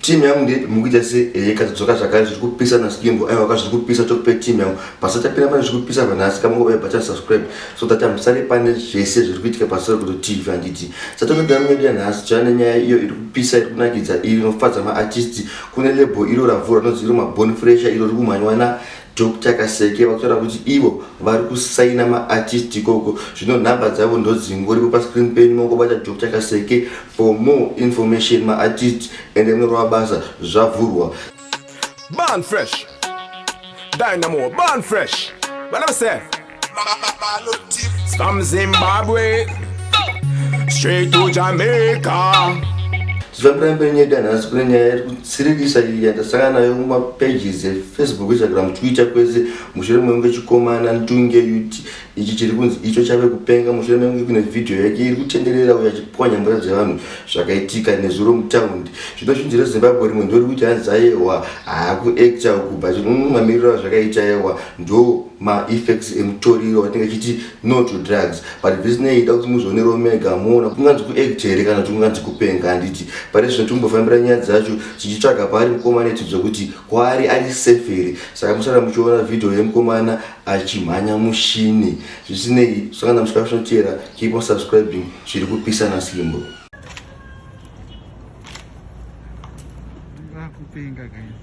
team yangu ndeipi mukuita se eh katidzoka zvakare zviri kupisa na skimbo aiwa ka zviri kupisa tokupe team yangu basa tapira pane zviri kupisa panhasi ka mungo bata subscribe so that amusare pane zvese zviri kuitika pasoro kuti tv handiti satonoda mwedu yanhasi chana nyaya iyo iri kupisa iri kunakidza iri inofadza ma artist kune label iro ravhura nozi iro mabone fresher iro rikumhanywa na Doctor Kaseke vakutaura kuti ivo vari kusaina maartist ikoko zvino nhamba dzavo ndodzingoripo pascreen penyu mongobata Doctor Kaseke for more information maartist ende munorova basa zvavhurwa Burn fresh. Dynamo, burn fresh. But I'm saying. From Zimbabwe straight to Jamaica. zvabuda mberi nyaya danhasi kune nyaya iri kutsiririsa iyi yandasangana nayo mumapages efacebook instagram twitter kwese mushure mekunge chikomana ntunge ut ichi chiri kunzi icho chave kupenga mushure mekunge kune vhidhiyo yake iri kutenderera uyo achipwanya mvura dzevanhu zvakaitika nezuro mutaundi zvino zvinzi rezimbabwe rimwe ndori kuti hanzi ayehwa haakuacta uku but mamiriro azvakaita yehwa ndo maeffects emutoriro watinenge chiti no to drugs but zvisinei ida kuti muzoone romega moona kunganzi kuact here kana kuti kunganzi kupenga handiti pane zvino tikumbofambira nyaya dzacho tichitsvaga paari mukomana itidzwa kuti kwaari ari safe here saka musara muchiona vhidhiyo yemukomana achimhanya mushini zvisinei sangana muchikara zvinoteera keep on subscribing zviri kupisana simbo kupenga guys